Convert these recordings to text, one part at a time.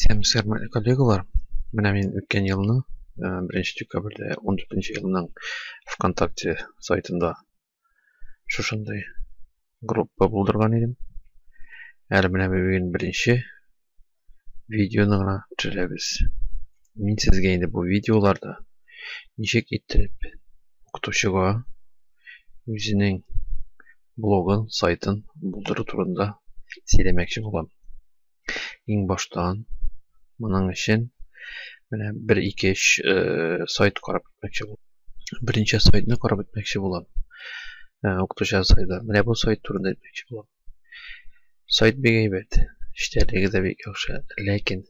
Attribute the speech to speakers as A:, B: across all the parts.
A: Сәмсәр коллегалар, менә мин үткән елны, 1 э, декабрьдә 14 елның ВКонтакте сайтында шушындай группа булдырган идем. Әле менә бүген беренче видеоны гына төшерәбез. Мин сезгә инде бу видеоларда ничек итеп укытучыга үзенең блогын, сайтын булдыру турында сөйләмәкче булам. Иң баштан моның өчен менә 1-2-3 э, сайт карап үтмәкче булам. Беренче сайтны карап үтмәкче булам. Э, укытучы сайты. Менә бу сайт турында әйтмәкче булам. Сайт бик әйбәт. Эчтәлеге дә бик яхшы, ләкин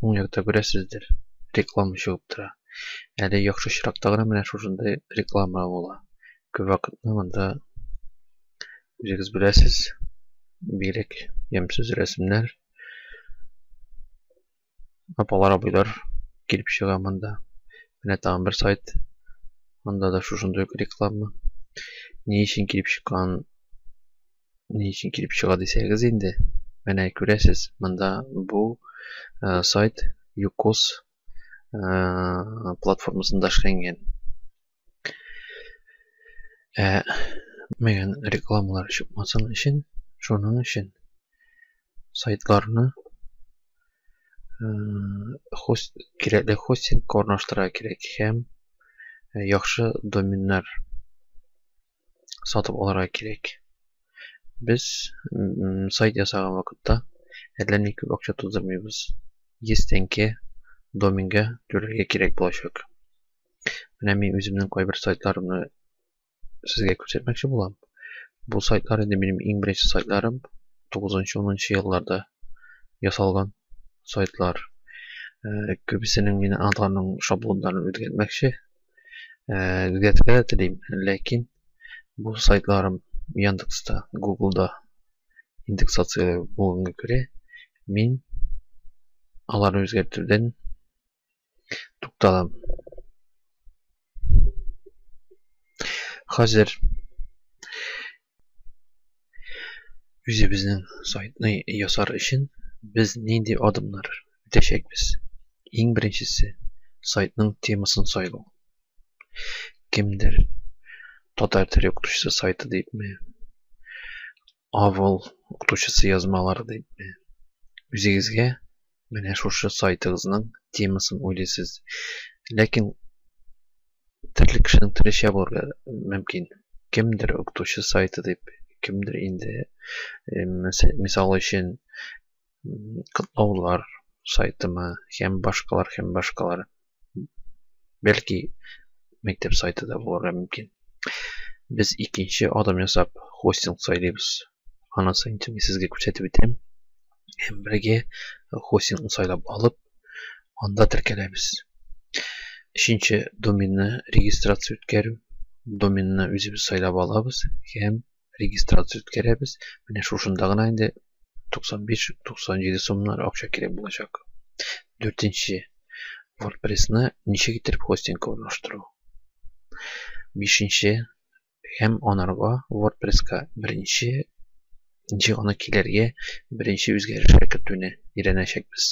A: уң якта күрәсездер, реклама чыгып тора. Әле яхшы чиракта гына менә шушындый реклама була. Күп вакытны монда үзегез беләсез, бигрәк ямьсез рәсемнәр. Апалар, абыйлар килеп чыга монда. Менә тагын бер сайт. Монда да шушындый ук реклама. Ни өчен килеп чыккан, ни өчен килеп чыга дисәгез инде, менә күрәсез, монда бу э, сайт Юкос э, платформасында эшләнгән. Ә күрмәгән рекламалар чыкмасын өчен, шуның өчен сайтларны хост кирәкле хостинг орнаштыра кирәк һәм яхшы доменнар сатып алырга кирәк. Без сайт ясаган вакытта әллә ни күп акча туздырмыйбыз. 100 тәңкә домингә түләргә кирәк булачак. Менә мин үземнең кайбер сайтларымны сезгә күрсәтмәкче булам. Бу сайтлар инде минем иң беренче сайтларым 9-10 елларда ясалган сайтлар. Э, күбесенең мин аларның шаблоннарын үзгәртмәкче. Э, үзгәртергә дә телим, ләкин бу сайтларым Яндекста, Гуглда индексация булганга күрә, мин аларны үзгәртүдән Тукталам. Хәзер үзебезнең сайтны ясар өчен без нинди адымнар үтәчәкбез? Иң беренчесе сайтның темасын сайлау. Кемдер татар теле укытучысы сайты дип авыл укытучысы язмалары дип үзегезгә менә шушы сайтыгызның темасын уйлыйсыз ләкин төрле кешенең төрлечә булырга мөмкин кемдер укытучы сайты дип кемдер инде мисал өчен котлаулар сайтымы һәм башкалар һәм башкалар бәлки мәктәп сайты да булырга мөмкин без икенче адым ясап хостинг сайлыйбыз анысы инде мин сезгә күрсәтеп үтәм һәм бергә хостингны сайлап алып анда теркәләбез өченче доменны регистрация үткәрү доменны үзебез сайлап алабыз һәм регистрация үткәрәбез. Менә шушында гына инде 95-97 сумнар акча кирәк булачак. Дүртенче. WordPress-ны ничек итеп хостингка урнаштыру. Бишенче. Һәм анарга WordPress-ка беренче ничек аны килергә, беренче үзгәрешләр кертүне өйрәнәчәкбез.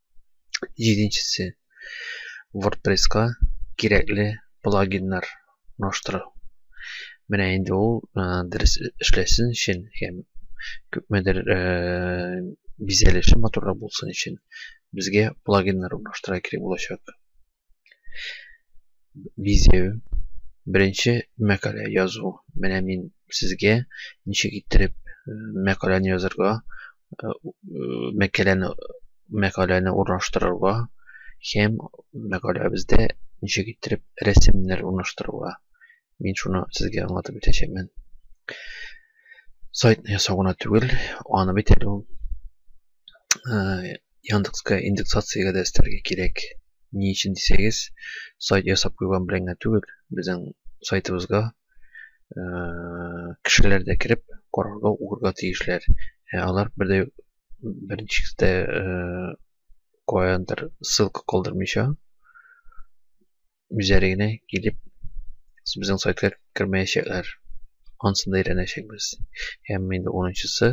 A: җиденчесе wordpress-ка кирәкле плагиннар урнаштыру менә инде ул дөрес эшләсен өчен һәм күпмедер бизәлеше матуррак булсын өчен безгә плагиннар урнаштыра кирәк булачак Бизәү. Беренче мәкалә язу. Менә мин сезгә ничек иттереп э, мәкаләне язырга, э, мәкаләне мәкаләне урнаштырырга һәм мәкаләбездә ничек иттереп рәсемнәр урнаштырырга Мин шуны сезгә аңлатып үтәчәкмен. Сайтны ясау гына түгел, аны бит әле ул э, Яндекска индексациягә дә өстәргә кирәк. Ни өчен дисәгез, сайт ясап куйган белән генә түгел, безнең сайтыбызга э, кешеләр дә кереп, карарга, укырга тиешләр. Ә алар бер дә беренче дә э, каяндыр ссылка калдырмыйча, үзләренә килеп безнең сайтка кермәячәкләр. Ансын да өйрәнәчәкбез. Һәм инде 10-нчысы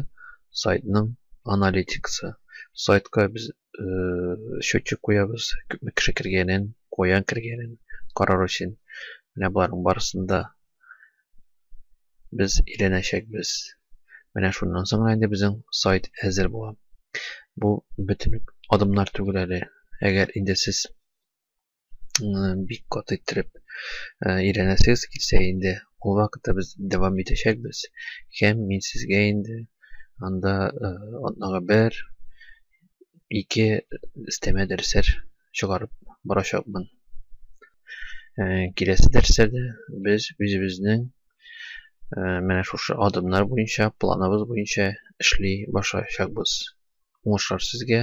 A: сайтның аналитикасы. Сайтка без э, счетчик куябыз, күпме кеше кергәнен, каян кергәнен карар өчен. Менә боларның барысын да без өйрәнәчәкбез. Менә шуннан соң гына инде безнең сайт әзер була. Бу бөтен үк адымнар түгел әле. Әгәр инде сез бик каты иттереп өйрәнәсегез килсә инде ул вакытта без дәвам итәчәкбез һәм мин сезгә инде анда атнага бер ике өстәмә дәресләр чыгарып барачакмын киләсе дәресләрдә без үзебезнең менә шушы адымнар буенча планыбыз буенча эшли башлаячакбыз уңышлар сезгә